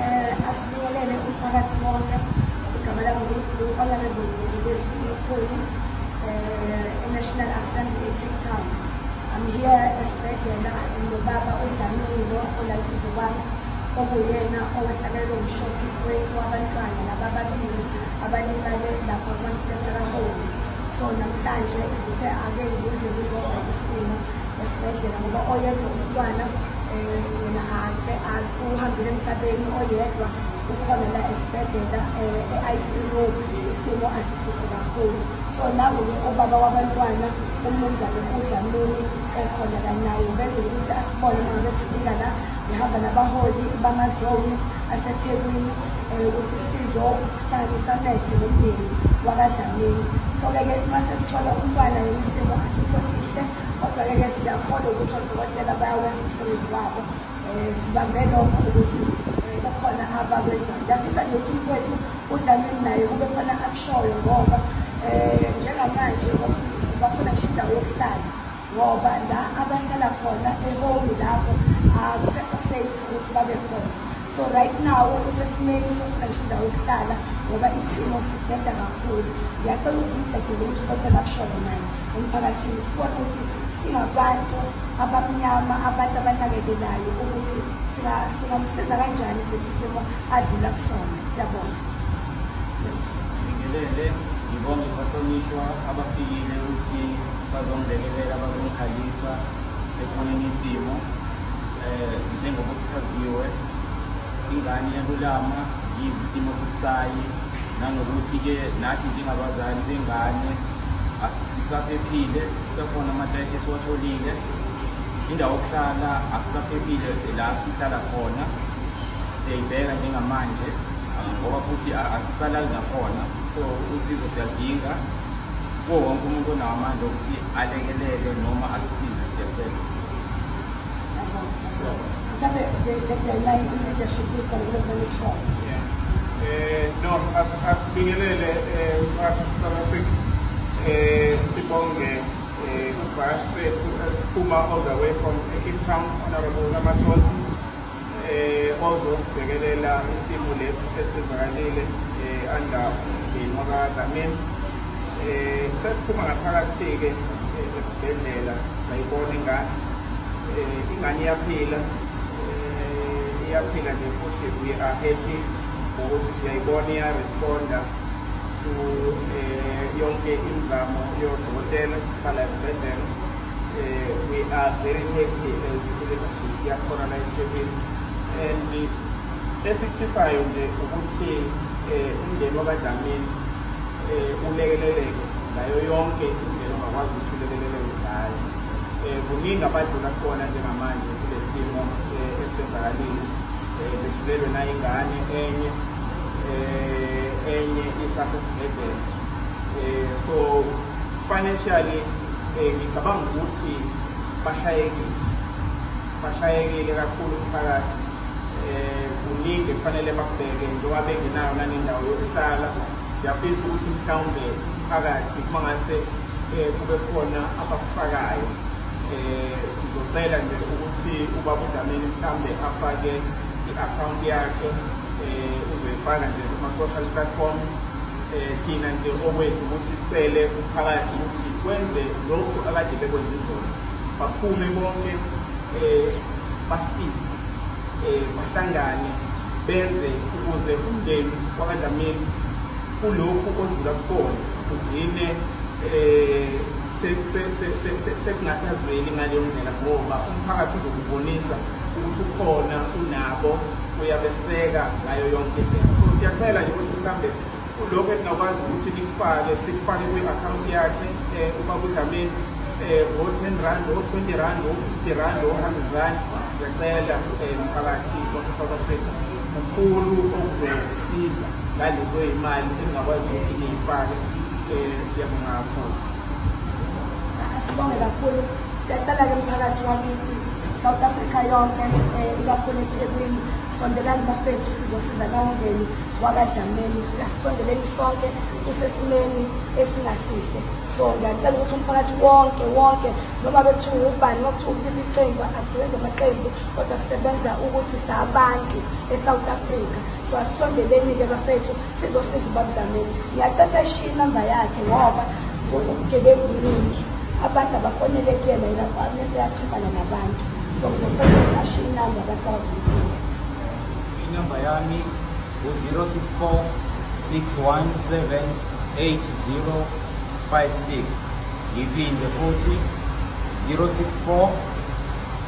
Eh, asibingelele umphakathi wonke igama langunkulu olalebongeli bethu umkhulu um eh, enational assembly ecape town i'm here esibhedlela nobaba odlamile olayize kwami okuyena owehlakelelwe umshophi wabantwana laba ababili abalimale lapha kwasibethelaholi so namhlanje ngithe ake ngize ngizobheka isimo esibhedlela ngoba oyedwa umntwana um yena ake uhambile emhlabeni oyedwa ukhona la esibhedlela um e-icu isimo asisihle kakhulu so nangoke ubaba wabantwana umnumzane udlamini ekhona la naye benzela ukuthi asibone uma ngabe sifika la ngihamba nabaholi bamazoni asethekwini um ukuthi sizohlanganisa amehlo nomndeni wakadlamini so-ke ke uma sesithola umntwana yena isimo asikho sihle Kodwa-ke ke siyakholwa ukuthi odokotela bayawenza umsebenzi wabo um sibambe lokho ukuthi um kukhona abakwenzayo ngiyafisa nje ukuthi umfowethu udlamini naye kube khona akushoyo ngoba um njengamanje omlisi bafuna ngisho indawo yokuhlala ngoba la abahlala khona eholi lapho akusekho safe ukuthi babe khona so right now usesimeni sokufuna ngisho indawo yokuhlala ngoba isimo sibheda kakhulu ngiyacela ukuthi ngidedele ukuthi konke bakushoyo naye emphakathini sibone ukuthi singabantu abamnyama abantu abanakekelayo ukuthi singamsiza kanjani kulesi simo adlula kusona siyabona ngibingelele ngibonge bahlonishwa abafikile ukuthi bazongilekelela bazongikhalisa ekhoneni isimo um eh, njengokuthi Chaziwe ingane iyalulama yize isimo sibucayi nanokuthi-ke nathi njengabazali bengane asisaphephile kusekhona amatayiti esiwatholile indawo yokuhlala akusaphephile la sihlala khona siyayibheka njengamanje ah, ngoba futhi a- asisalali nakhona so usizo siyadinga kuwo wonke umuntu onawo amandla okuthi alekelele noma asisize siyacela asibingelele umphakathi wesouth africa um sibonge um isivakashi sethu esiphuma all the way from cape town honorable lamathonsi eh, ozosibhekelela isimo lesi esivakalile eh, under umndeni wakadlamini eh, sesiphuma ngaphakathi-ke esibhedlela sayibona ingane ingane iyaphila iyaphila nje futhi we are happy ngokuthi siyayibona iyaresponda to yonke imizamo yodokotela khala esibhedlela Uh, we are very happy as i-leadership yakhona la eThekwini and esikufisayo nje ukuthi eh, umndeni wakadlamini um ulekeleleke ngayo yonke indlela ongakwazi ukuthi ulekeleleke ngayo um kuningi abadlula khona njengamanje kule simo um esenzakalile um bedlulelwe nayingane enye um enye isasesibhedlela um so Financially eh, ngicabanga ukuthi bashayekile bashayekile kakhulu umphakathi eh, kuningi kufanele bakubheke njengoba bengenayo nanendawo yokuhlala siyafisa ukuthi mhlawumbe phakathi uma ngase eh, kube khona abakufakayo eh, sizocela nje ukuthi ubaba udlamini mhlawumbe afake i-akhawunti yakhe um uzoyifaka nje kuma-social platforms Eh, thina nje okwethu ukuthi sicele umphakathi ukuthi kwenze lokhu akade bekwenza izona baphume bonke um basize um bahlangane benze ukuze umndeni wakadlamini kulokhu odlula kukhona ugcine um sekungasazweli ngaleyo ndlela ngoba umphakathi uzokubonisa ukuthi ukhona unabo uyabeseka ngayo yonke indlela so siyacela nje ukuthi mhlawumbe kulokho eningakwazi ukuthi nikufake sikufake kwi-akhawunti yakhe um uma kudlameni um o-ten rand o-twenty rand o-fifty rand o-hundred rand siyacela um mphakathi wase-south africa mkhulu okuzokusiza ngalezo yimali engingakwazi ukuthi niyifake um siyabonga kakhulu Sibonge kakhulu siyacela-ke mphakathi wakithi South Africa yonke eh, ikakhulu eThekwini sondelani bafethu sizosiza nawungeni wakadlameni siyasondeleni sonke usesimeni esingasihle so ngiyacela ukuthi umphakathi wonke wonke noma bekuthiwa ubani noma kuthiwa uliba iqembu akusebenza amaqembu kodwa kusebenza ukuthi sabantu e-south africa so asisondeleni-ke bafethu sizosiza ubaba dlamini ngiyaqetha ishiye inamba yakhe ngoba ubugebengu buningi abantu abafonele kuyena yena kwami seyaxhumana nabantu so ngizoqetha ashiye inamba abantu abazomthinga inamba yami u-064 617 8056 ngiphinde futhi 064